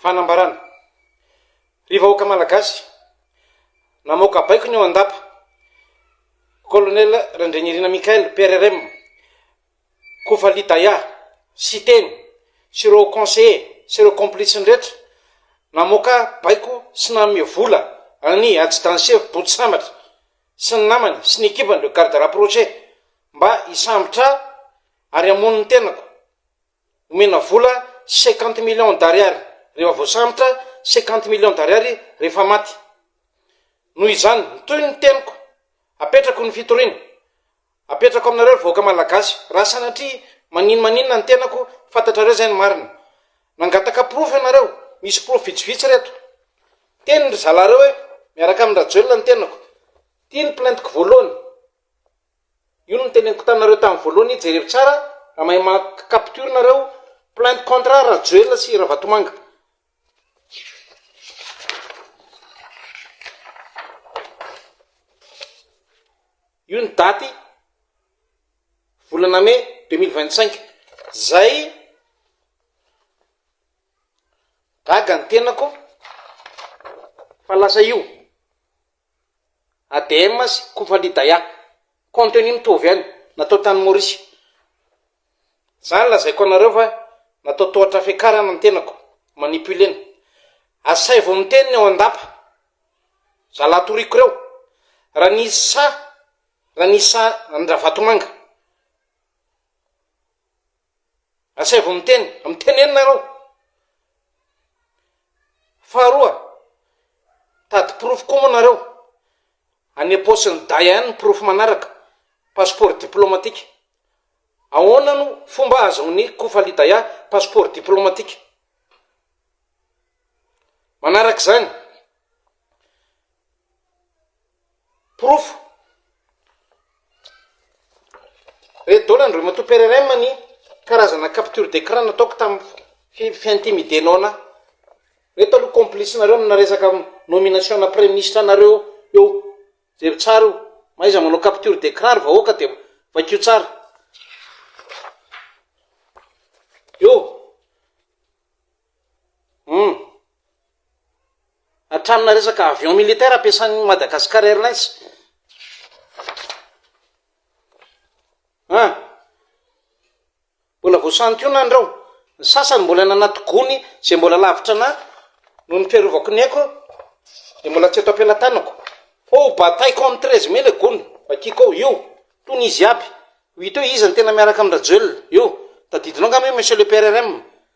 Fanambarana. Ry vahoaka Malagasy, namoaka baiko ny ao an-dapa, Colonel Randrianirina Michael, PRRM, Kofali Daya, Siteny, sy ireo conseillers sy ireo complices-ny rehetra, namoaka baiko sy nanome vola an'i Haji Dansevo Boto Sambatra sy ny namany sy ny ekipany, le garde rapproché, mba hisambotra ahy ary hamono ny tenako. Omena vola cinquante millions d'ariary rehefa voasambotra, cinquante millions d'ariary rehefa maty. Noho izany, mitohy ny teniko, apetrako ny fitoriana, apetrako aminareo ry vahoaka Malagasy, raha sanatria maninomaninona ny tenako, fantatrareo izay ny marina. Nangataka porofo ianareo, misy porofo vitsivitsy ry eto. Niteny ry zalareo hoe miaraka amin-dRajoelina ny tenako. Ity ny plainte-ko voalohany. Io no noteneniko taminareo tamin'ny voalohany, jereo tsara raha mahay maka capture nareo, plainte contre Rajoelina sy Ravatomanga. Io ny daty volana mey deux mille vingt cinq, zay gaga ny tenako fa lasa io. ADM sy Kufalidaya, contenu mitovy ihany, natao tany Maurice. Zany lazaiko anareo fa natao tohatra fiakarana ny tenako, manipulena. Asaivo miteny ny ao an-dapa, zalahy toriako ireo, raha ny isa, raha ny isa an-dRavatomanga. Asaivo miteny, miteneno nareo. Faharoa, tady porofo koa moa nareo, any am-paosin'ny daya any ny porofo manaraka, passeport diplomatique. Ahoana no fomba ahazoan'i Kofalidaya passeport diplomatique? Manaraka izany. Porofo, Red Dawn an'i Ramatoa PRRM ny karazana capture d'écran nataoko tamin'ny fi- fiintimidenona ahy. Ireto aloha complice nareo amina resaka nomination na praiministra anareo eo. Jery tsara io, mahaiza manao capture d'écran ry vahoaka dia vakio tsara. Eo. Humm. Hatramina resaka avion militaire ampiasan'ny Madagascar Airlines. An. Mbola voasantionany ireo. Ny sasany mbola nanaty gony izay mbola lavitra an'ahy noho ny fiarovako ny aiko dia mbola tsy eto am-pelatanako. Fa ho bataiko amin'ny treize mai ilay gony. Vakiko ao. Io. Tony izy iaby. Ho hita eo iza no tena miaraka amin-dRajoelina. Io. Tadidinao angamba io monsieur le PRRM.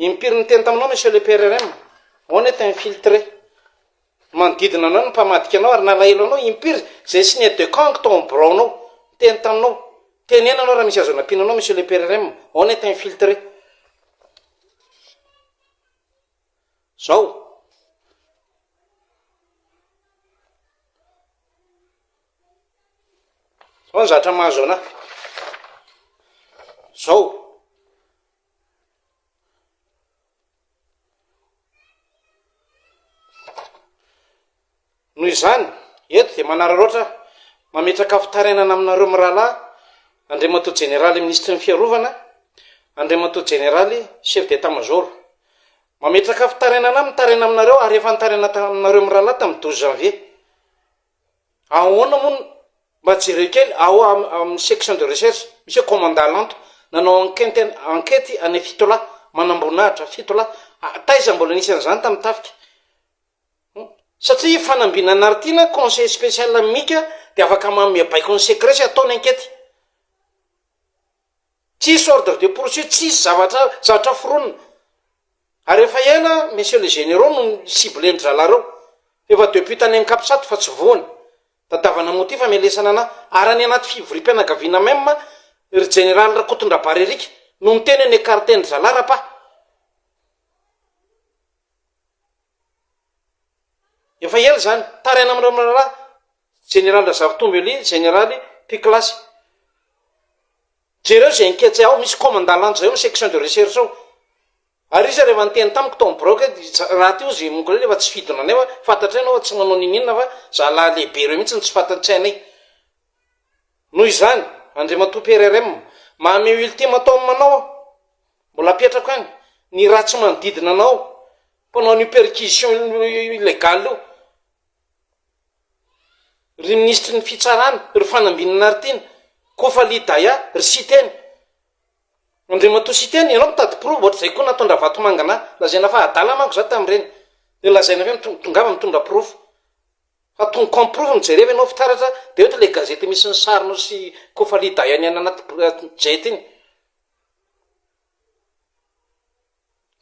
Impiry niteny taminao Monsieur le PRRM? On est infiltré. Manodidina anao no mpamadika anao ary nalahelo anao. Impiry izay signe de camp tao amin'ny biraonao? Niteny taminao. Teneno ianao raha misy azo anampiana anao Monsieur le PRRM. On est infiltré. Izao, Zao ny zatra mahazo anah. Zao. Noho izany, eto dia manararaotra aho, mametraka fitarainana aminareo mirahalahy, Andriamatoa Jeneraly Minisitry ny Fiarovana, Andriamatoa Jeneraly Chef d'Etat Major. Mametraka fitarainana aho mitaraina aminareo ary efa nitaraina taminareo mirahalahy tamin'ny douze janvier. Ahoana moa ny, mba jereo kely ao amin'ny section de recherche, misy hoe commandant lento, nanao enquête an, enquête any Fitolahy, manamboninahitra, Fitolahy, taiza mbola nisy an'izany tamin'ny tafika? hum, satria fanambinana an'i Rtiana, conseil spécial amin'i Mika dia afaka manome baiko ny secret sy atao ny enquête. Tsisy ordre de poursuite, tsisy zavatra zavatra foronina. Ary efa ela messieurs les généraux no ni-cibler ny drala reo. Efa depuis tany any Capsat fa tsy voany. Tadavana moa ty famelesana anah. Ary any anaty fivoriam-pianagaviana même ry jeneraly Rakotondrabary Eric no niteny hoe ni-ecarter ny zalahy ra pa. Efa ela zany. Taraina amin'ireo miraharaha. Jeneraly Razaritombo Elie, Jeneraly, Mpiklasy, jereo izay anketsay ao, misy commandant lanja izay ao amin'ny section de recherche ao. Ary izy ary efa niteny tamiko tao amin'ny biraoko hoe ry za- rahateo izy Mongoley efa tsy fidina anay fa fantatray ianao fa tsy manao n'inon'inona fa zalahy lehibe ireo mihitsy no tsy fantatsay anay. Noho izany, Andriamatoa PRRM, mahamehy ultime atao amin'ny manao aho, mbola apetrako any, ny ratsy manodidina anao, mpanao an'io perquisition illegale io, ry minisitry ny fitsarana, ry Fanambinina Naritiana, Kofali Daya, ry Siteny, Andriamatoa Siteny, ianao mitady porofo, ohatr'izay koa nataon-dra Vatomanga na, lazaina fa adala manko za tamin'ireny, dia lazaina ve mitondra, tongava mitondra porofo, fa tong comme porofo no jereva ianao fitaratra, dia ohatry ilay gazety misy ny sarinao sy Kofali Daya ny any anaty jet iny.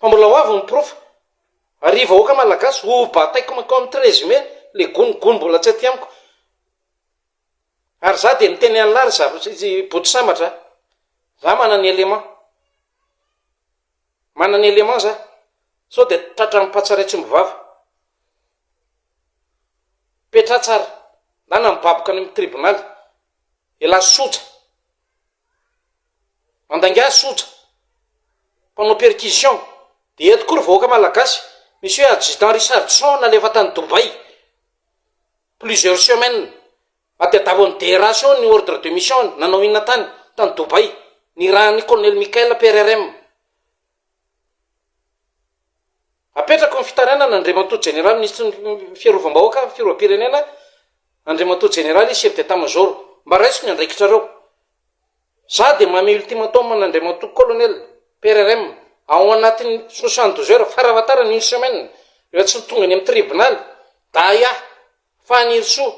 Fa mbola ho avy ny porofo. Ry vahoaka malagasy, ho bataiko mankao amin'ny treize mai le gony gony mbola tsy aty amiko. Ary za dia miteny an'lah ry zareo boto sambatra a! Za manana élément. Manana élément za. Sao dia tratra amin'ny patsa iray tsy omby vava. Petraha tsara. Ndana mibaboka any amin'ny tribonaly. Elah soja. Mandainga soja, mpanao percussion, dia eto koa ry vahoaka malagasy misy hoe adjudant Richardson nalefa tany Dubaï plusieurs semaines, natadiavo an'i DRH eo ny ordre de mission-ny, nanao inona tany, tany Dubaï, nirahan'ny colonel Michael PRRM. Apetrako ny fitarainana Andriamatoa Jeneraly Minisitry ny Fiarovam-bahoaka ary ny Fiarovam-pirenena, Andriamatoa Jeneraly Chef d'Etat Major, mba raiso ny andraikitrareo. Za dia mamehy ultimatum an'Andriamatoa Colonel, PRRM, ao anatin'ny soixante douze heures, faravatarany une semaine, rehefa tsy tonga any amin'ny tribonaly, Daya, Fanirisoa,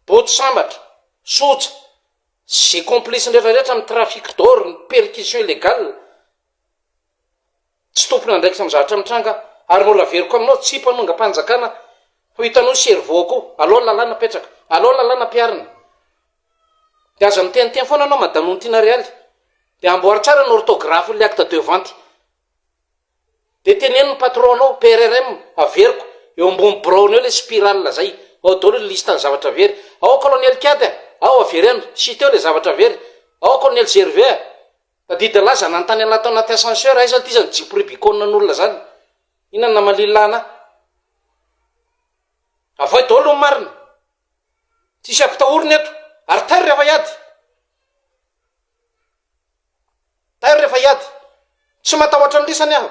Boto Sambatra, Soja, sy ze complices-ny rehetrarehetra amin'ny trafic d'or, ny perquisition illegale, Tsy tompon'andraikitra amin'ny zavatra mitranga ary mbola averiko aminao tsy mpanongam-panjakana ho hitanao ny cerveau koa alao lalàna apetraka alao lalàna ampiharina dia aza miteniteny foana anao madame Ontina Realy dia amboary tsara ny orthographe ny acte de vente dia teneno ny patron anao PRRM averiko eo ambony biraonao ilay spirale zay ao daholo ny liste ny zavatra very ao colonel Kiady a ao avereno citez ilay zavatra very ao colonel Gervais a Tadidy lahy zany hanontany anah tao anaty ascenseur aiza ty zany jeep rubicon an'olona zany inona no namalilina anah avoay daolo ny marina tsisy ampitahorina eto ary tairo rehefa hiady tairo rehefa hiady tsy matahotra ny lisany aho